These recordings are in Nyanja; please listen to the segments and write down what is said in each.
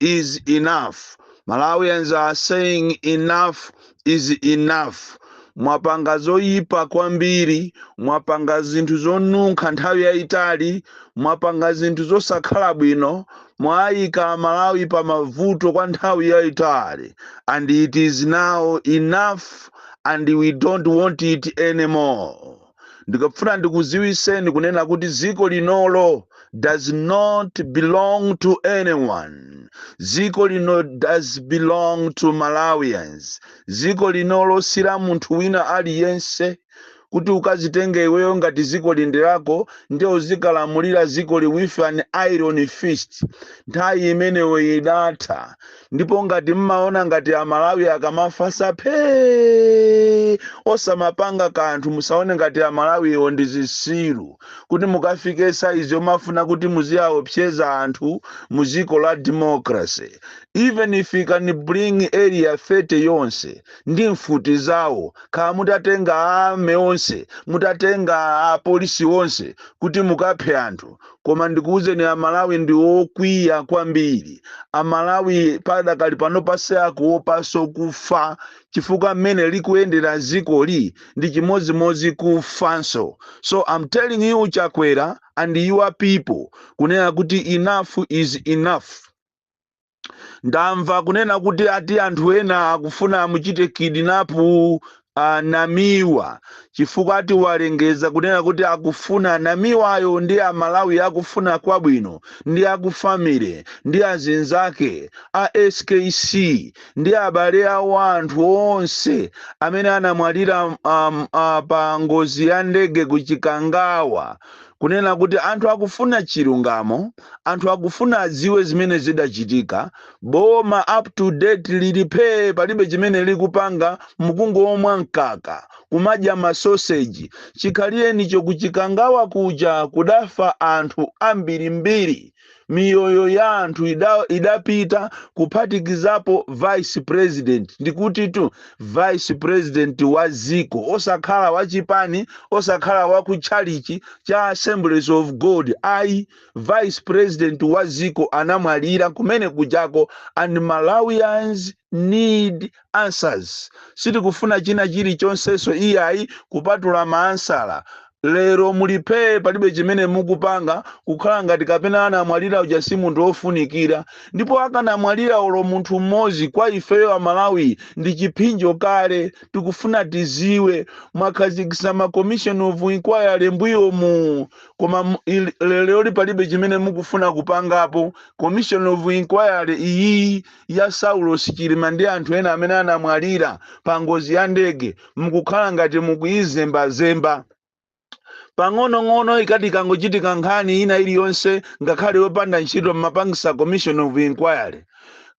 is enough. Malawians are saying enough is enough. Mwapanga zoyipa kwambiri, mwapanga zinthu zonunkha nthawi yayitali, mwapanga zinthu zosakhala bwino, mwayika Malawi pa mavuto kwa nthawi yayitali. And it is now enough and we don't want it anymore. ndikafuna ndikuziwiseni kunena kuti dziko linolo does not belong to anyone dziko lino does belong to malawians dziko linolo si la munthu wina aliyense kuti ukazitenge iweyo ngati dziko li ndi lako ndiye uzikalamulira dzikoli with an iron fist nthawi imeneyo idatha ndipo ngati mmaona ngati amalawi akamafasa phee osamapanga kanthu musaone ngati amalawiwo ndi zisiru kuti mukafike saizi yomafuna kuti muziyaopseza anthu mu dziko la democracy even if you can bring area 30 yonse ndi mfuti zawo khala mutatenga army onse mutatenga apolisi onse kuti mukaphe anthu koma ndikuwuzeni amalawi ndi okwiya kwambiri amalawi padakali panopa sakuopaso kufa chifukwa mmene likuyendera zikoli ndi chimodzimodzi kufanso so i'm telling you chakwera and your people kunena kuti enough is enough ndamva kunena kuti ati anthu ena akufuna amuchite kidinapu a namiwa chifukwa ati walengeza kunena kuti akufuna namiwayo ndi amalawi akufuna kwabwino ndi akufamily ndi azinzake a skc ndi abale awo anthu onse amene anamwalira pa ngozi ya ndege ku chikangawa kunena kuti anthu akufuna chilungamo anthu akufuna adziwe zimene zidachitika, boma up to date lili phee palibe chimene likupanga mukungomwa mkaka, kumadya ma sausage. Chikhalirenicho ku Chikangawa kuja kudafa anthu ambirimbiri, miyoyo ya anthu idapita kuphatikizapo vice president ndikutitu vice president wa dziko osakhala wa chipani osakhala wa ku tchalichi cha assemblies of god ayi vice president wa dziko anamwalira kumene kujako and malawians need answers sitikufuna china chilichonseso iyayi kupatula maansala Lero muli phee palibe chimene mukupanga, kukhala ngati kapena anamwalira uja si munthu ofunikira. Ndipo akanamwalira olo munthu mmodzi kwa ifeyo a Malawi ndi chiphinjo kale. Tikufuna tidziwe, mwakhazikitsa ma commission of inquiry mbuyomu koma leroli palibe chimene mukufuna kupangapo. Commission of inquiry iyiyi ya Saulos Chilima ndi anthu ena amene anamwalira pa ngozi ya ndege mukukhala ngati mukuyizembazemba pang'onong'ono ikati ikangochitika nkhani ina iliyonse ngakhale yopanda ntchito mmapangisa commission of inquiry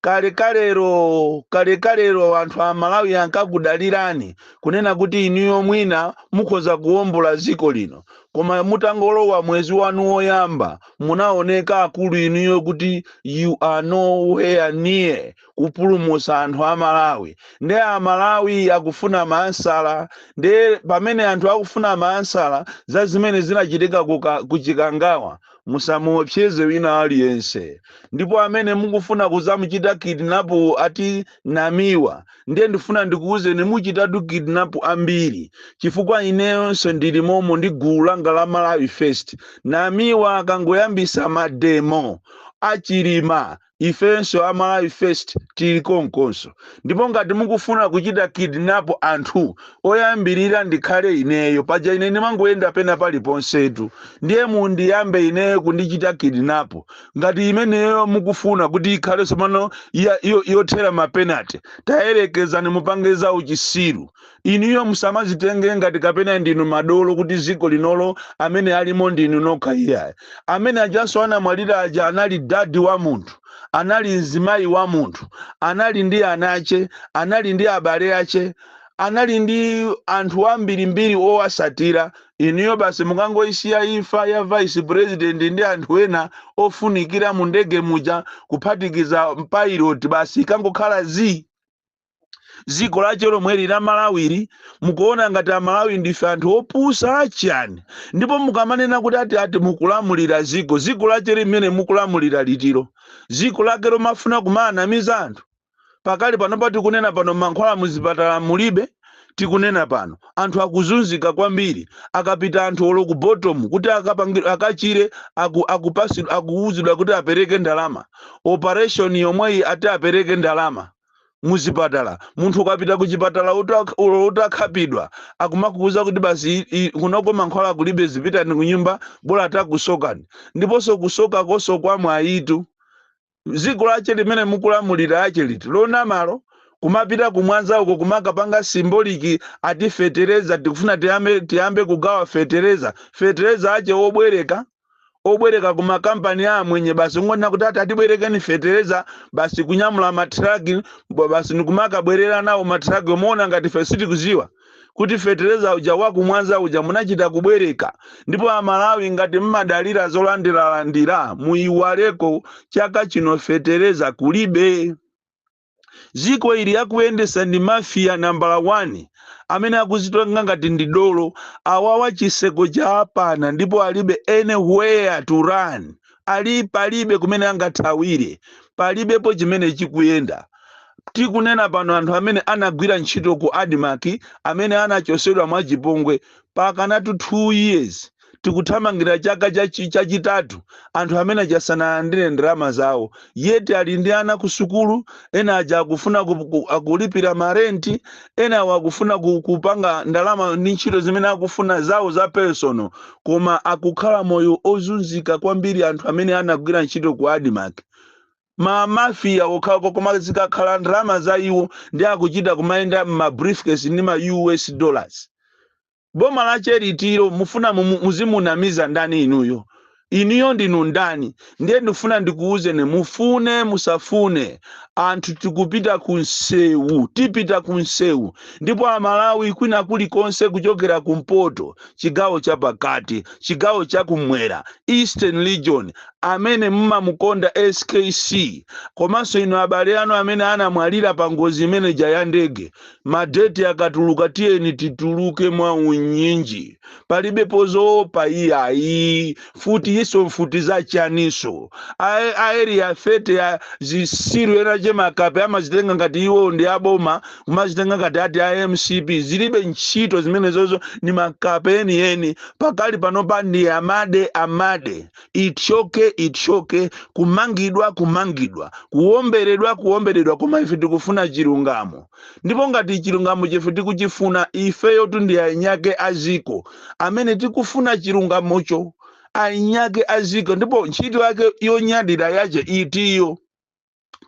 kalekalero kalekalero anthu a malawi ankakudalirani kunena kuti inuyo mwina mukhoza kuwombola dziko lino koma mutangolowa mwezi wanu woyamba munaoneka akulu inuyo kuti you are nowhere near kupulumutsa anthu a malawi nde a malawi akufuna maansala nde pamene anthu akufuna maansala za zimene zinachitika ku chikangawa musamuopseze wina aliyense ndipo amene mukufuna kuzamuchita kidnapu ati namiwa ndiye ndifuna ndikuwuzeni muchitatu kidnap ambiri chifukwa ineyonso ndili momo ndi gulu langa la malawi first namiwa akangoyambisa mademo achilima ifenso a malawi first tili konkonso ndipo ngati mukufuna kuchita kidnap anthu woyambirira ndikhale ineyo paja ine ndimangoyenda pena paliponsetu ndiye mundiyambe ineyo kundichita kidnap ngati imeneyo mukufuna kuti ikhale tsopano yothera mapenati tayerekezani mupange za uchisiru inuyo musamazitenge ngati kapena ndinu madolo kuti dziko linolo amene alimo ndinu nokha iyayi amene ajanso anamwalira aja anali dadi wa munthu anali mzimayi wa munthu anali ndi ana ache anali ndi abale ache anali ndi anthu ambirimbiri owasatira inuyo basi mukangoisiya imfa ya vice president ndi anthu ena ofunikira mu ndege muja kuphatikiza mpilot basi ikangokhala zii dziko lache lomweli la malawili mukuona ngati amalawi ndife anthu opusa achiyani ndipo mukamanena kuti ati ati mukulamulira dziko dziko lache limene mukulamulira litilo dziko lake lomafuna kumawanamiza anthu pakali pano tikunena pano mankhwala muzipatala mulibe tikunena pano anthu akuzunzika kwambiri akapita anthu olo ku bottom kuti akachire akuwuzidwa kuti apereke ndalama operation yomweyi ati apereke ndalama muzipatala munthu ukapita ku chipatala olo utakhapidwa akumakuwuza kuti basi kunoko mankhwala kulibe zipitani kunyumba bola atakusokani ndiponso kusoka koso kwa mwayitu Dziko lache limene mukulamulira lache liti? Lonamalo, kumapita ku Mwanza uko kumakapanga symbolic ati fetereza, tikufuna tiyambe kugawa fetereza. Fetereza ache obwereka, obwereka ku ma company a amwenye basi, kungonena kuti ati atibwerekeni fetereza basi, kunyamula ma truck basi nikumakabwerera nawo ma truck-wo kumaona ngati ife sitikudziwa. kuti fetereza uja wa ku Mwanza uja munachita kubwereka ndipo aMalawi ngati mmadalira zolandiralandira muyiwaleko chaka chino fetereza kulibe ziko ili akuliyendesa ndi mafiya nambala 1 amene akuzitonga ngati ndi dolo awawa chiseko cha apana ndipo alibe anywhere to run palibe kumene angathawire palibepo chimene chikuyenda tikunena pano anthu amene anagwira ntchito ku ADMARC amene anachosedwa mwachipongwe pakanatu 2 years tikuthamangira chaka chachi- chachitatu anthu amene achasanalandire ndalama zawo yet ali ndi ana ku sukulu ena aja akufuna ku- ku- akulipira marenti ena akufuna ku- kupanga ndalama ndi ntchito zimene akufuna zawo za personal koma akukhala moyo ozunzika kwambiri anthu amene anagwira ntchito ku ADMARC ma mafia okhaokha koma zikakhala ndalama za iwo ndi akuchita kumayenda mma briefcase ndi ma US dollars boma la cheritiro mufuna mumu- muzimunamiza ndani inuyo inuyo ndinu ndani Ndiye ndifuna ndikuuzeni mufune musafune anthu tikupita ku nsewu tipita ku nsewu ndipo aMalawi kwina kulikonse kuchokera kumpoto chigawo chapakati chigawo chakumwera eastern region amene mumamukonda SKC komanso inu abale anu amene anamwalira pa ngozi imeneja ya ndege madeti akatuluka tiyeni tituluke mwa unyinji palibepo zoopa iyayi mfuti izo mfuti zachani izo Ae- aeri ya fete ya zitsiru zinazache makape amazitenga ngati iwo ndi aboma kumazitenga ngati ati a MCP zilibe ntchito zimenezozo ni makape enieni pakali panopa ndi amade amade ithyoke ithyoke kumangidwa, kumangidwa kuwomberedwa kuwomberedwa koma ife tikufuna chilungamo ndipo ngati chilungamo chomwe ife tikuchifuna ifeyotu ndi eniake aziko amene tikufuna chilungamocho eniake aziko ndipo ntchito yake yonyadira yache itiyo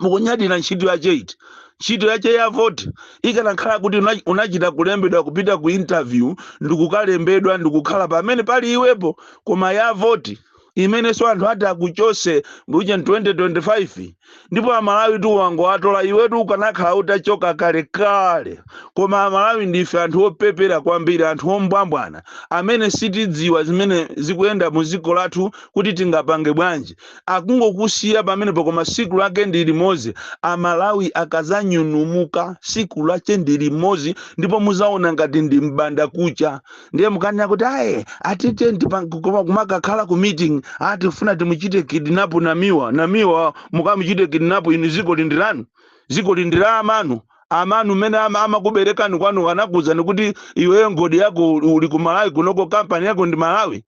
mukunyadira ntchito yache iti ntchito yache ya voti ikanakhala kuti una- unachita kulembedwa kupita ku interview ndikukalembedwa ndikukhala pamene pali iwepo koma ya voti imenenso anthu ati akuchose mu 2025 ndipo amalawi tu wawatola iwetu ukanakhala utachoka kale kale koma amalawi ndife anthu opepera kwambiri anthu ombwambwana amene sitidziwa zimene zikuyenda mu dziko lathu kuti tingapange bwanji akungokusiya pamenepo koma siku lache ndi limodzi amalawi akazanyanyuka siku lache ndi limodzi ndipo muzaona ngati ndi mbanda kucha ndiye mukanena kuti aye atite kumakakhala ku meeting atifuna timuchite kidnap namiwa namiwa mukamuchite kidnap inu ziko lindira inu ziko lindira amanu amanu mene ama- amakuberekani kwanu anakuuzani kuti iweyo mgodi wako uli ku malawi kunoko kampani yako ndi malawi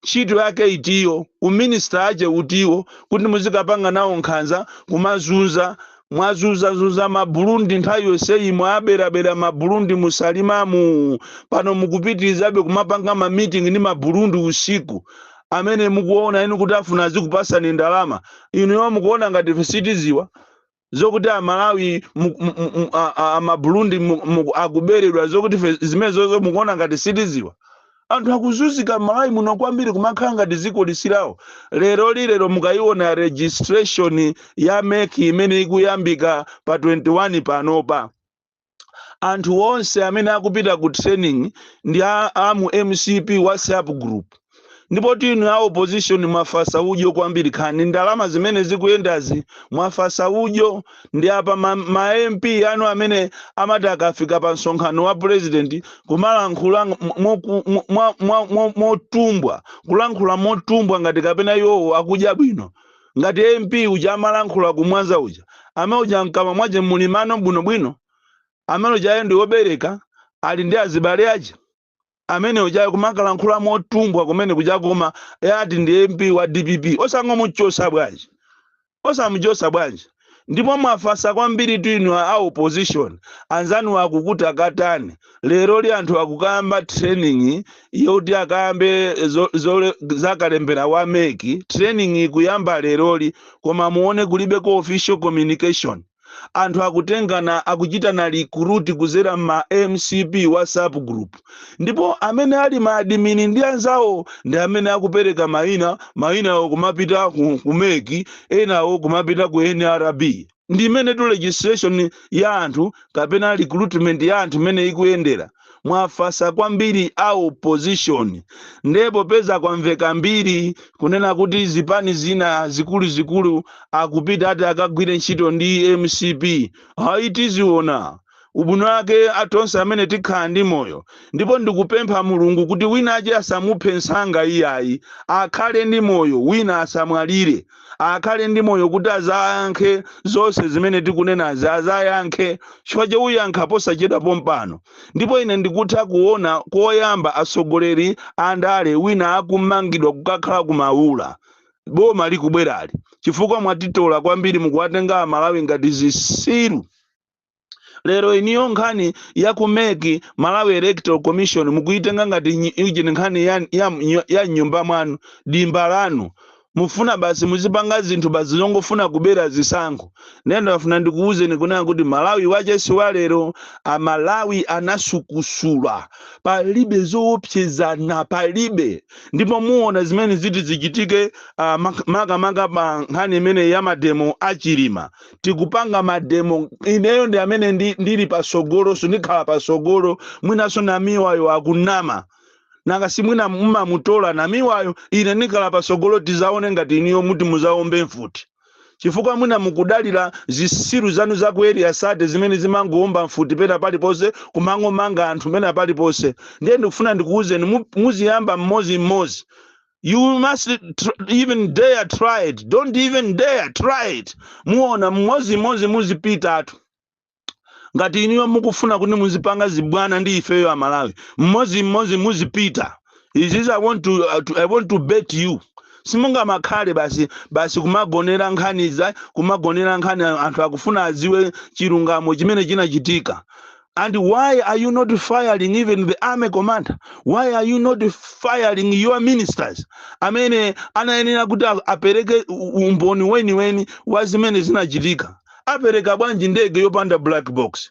ntchito yake itiyo, u minister ache utiwo kuti muzikapanga nawo nkhanza, kumazunza, mwazunza zunza ma Burundi nthawi yonseyi mwabera bera ma Burundi mu Salimamu, pano mukupitilizabe kumapanga ma meeting ndi ma Burundi usiku, amene mukuona inu kuti afuna azikupasani ndalama, inuyo mukuona ngati ife sitiziwa? zokuti amalawi mu- mu- mu- mu- a- a- amaburundi mu- mu- akuberedwa zokuti fe- zimenezozo mukuona ngati sitiziwa anthu akuzunzika m'malawi muno kwambiri kumakhala ngati dziko lisili lawo lero lilero mukayiona registration ya mec imene ikuyambika pa 21 panopa anthu onse amene akupita ku training ndi a, a mu mcp whatsapp group ndipotu inu a opposition mwafatsa udyo kwambiri kaya ndi ndalama zimene zikuyendazi mwafatsa udyo ndipo ma, ma mp anu amene amati akafika pa msonkhano wa president kumalankhula ng- moku- mo- mwa- mwa- mo- motumbwa kulankhula motumbwa ngati kapena iwowo akudya bwino ngati MP uja amalankhula ku Mwanza uja, amene uja mkamwa mwache muli mano bwino bwino? Amene ujayo ndi obereka, ali ndi azibale ache? Amene ujayo kumakalankhula motumbwa kumene kujako koma ati ndi MP wa dpp. Osangomuchosa bwanji? Osamuchosa bwanji? ndipo mwafatsa kwambiritu inu a opposition anzanu akutakataka leroli anthu akukayamba training yoti akayambe zo- zole- zakalembera wa mec training ikuyamba leroli koma muone kulibeko official communication anthu akutengana akuchitana recruit kuzera mma mcp whatsapp group ndipo amene ali maadimini ndi anzawo ndi amene akupereka mayina mayinawo kumapita ku, ku mec enawo kumapita ku nrb ndi mmenetu registration ya anthu kapena recruitment ya anthu imene ikuyendera mwafatsa kwambiri a opposition ndiye popeza kwamveka mbiri kunena kuti zipani zina zikuluzikulu akupita ati akagwire ntchito ndi mcp ayi tiziona ubwino wake a tonse amene tikhala ndi moyo ndipo ndikupempha mulungu kuti wina wache asamuphe nsanga iyayi akhale ndi moyo wina asamwalire akhale ndi moyo kuti azayankhe zonse zimene tikunenazi azayankhe chifukwa che uyankha posachedwa pompano ndipo ine ndikutha kuona koyamba atsogoleri andale wina akumangidwa kukakhala ku maula boma likubwerali chifukwa mwatitola kwambiri mukuwatenga amalawi ngati zisiru lero iniyo nkhani ya ku mec malawi electoral commission mukuitenga ngati nyi- iji ni nkhani ya, ya, mnyo- ya mnyumba mwanu dimba lanu mufuna basi muzipanga zinthu basi zongofuna kubera zisankho ndiye ndafuna ndikuwuzeni kunena kuti malawi wache si wa lero amalawi anasukusula palibe zoopsezana palibe ndipo muona zimene ziti zichitike ah, mak- makamaka pa nkhani imene ya mademo a chilima tikupanga mademo ineyo ndi amene ndi- ndili patsogolonso ndikhala patsogolo mwinanso namiwayo akunama nanga simwina mumamutola namiwayo ine ndikhala patsogolo tizaone ngati iniyo muti muzaombe mfuti chifukwa mwina mukudalira zisiru zanu za ku area thirty zimene zimangoomba mfuti pena paliponse kumangomanga anthu pena paliponse ndiye ndikufuna ndikuwuzeni mu- muziyamba mmodzi mmodzi you must tr- even dare try it don't even dare try it muona mmodzimmodzi muzipitatu ngati iniyo mukufuna kuti muzipanga zibwana ndi ifeyo amalawi mmodzimmodzi muzipita izizi i want to, uh, to, I want to bet you simungamakhale basi basi kumagonera nkhani za kumagonera nkhani anthu akufuna aziwe chilungamo chimene chinachitika And why are you not firing even the army commander? Why are you not firing your ministers? Amene anayenera kuti a- apereke u- umboni weniweni wa zimene zinachitika. Apereka bwanji ndege yopanda black box?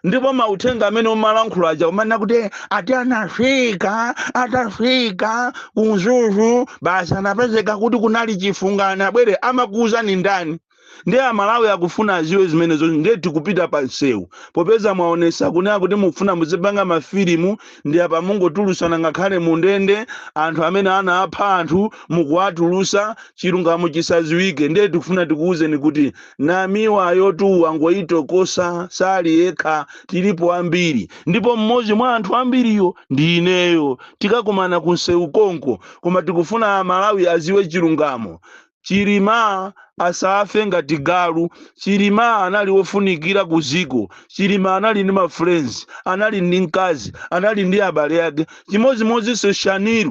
ndipo mauthenga amene umalankhula aja kumanena kuti "Eh, ati anafika atafika ku mzuzu basi anapezeka kuti kunali chifunga nabwere amakuwuzani ndani ndiye amalawi akufuna aziwe zimenezo ndiye tikupita pa msewu popeza mwaonesa kunena kuti mukufuna muzipanga mafilimu ndi apa mungotulusana ngakhale mu ndende anthu amene anapha anthu mukuwatulusa chilungamo chisaziwike ndiye tikufuna tikuwuzeni kuti namiwayotu wangoyitokosa sali yekha tilipo ambiri ndipo mmodzi mwa anthu ambiriyo ndi ineyo tikakumana ku msewu konko koma tikufuna amalawi aziwe chilungamo Chilima asafe ngati galu. Chilima anali wofunikira ku dziko. Chilima anali ndi ma friends, anali ndi mkazi, anali ndi abale ake. Chimodzimodzinso Shanil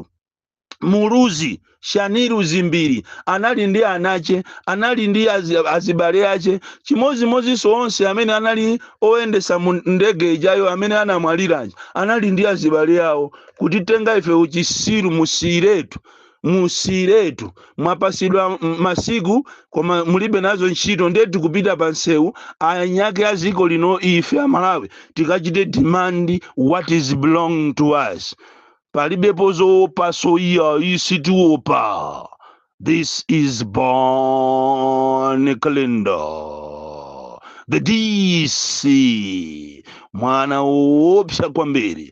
Muluzi, Shanil Dzimbiri anali ndi anache, anali ndi azi, azibale ache. Chimodzimodzinso onse amene anali oyendesa mu ndege ijayo amene anamwalira aja anali ndi azibale awo. Kutitenga ife uchisiru musiyiretu musiyiretu mwapatsidwa m- masiku koma mulibe nazo ntchito ndiye tikupita pa nsewu eniake a dziko lino ife amalawi tikachite demand what is belonged to us palibepo zowopa so ife sitiwopa this is Bon Kalindo the DC mwana woopsa kwambiri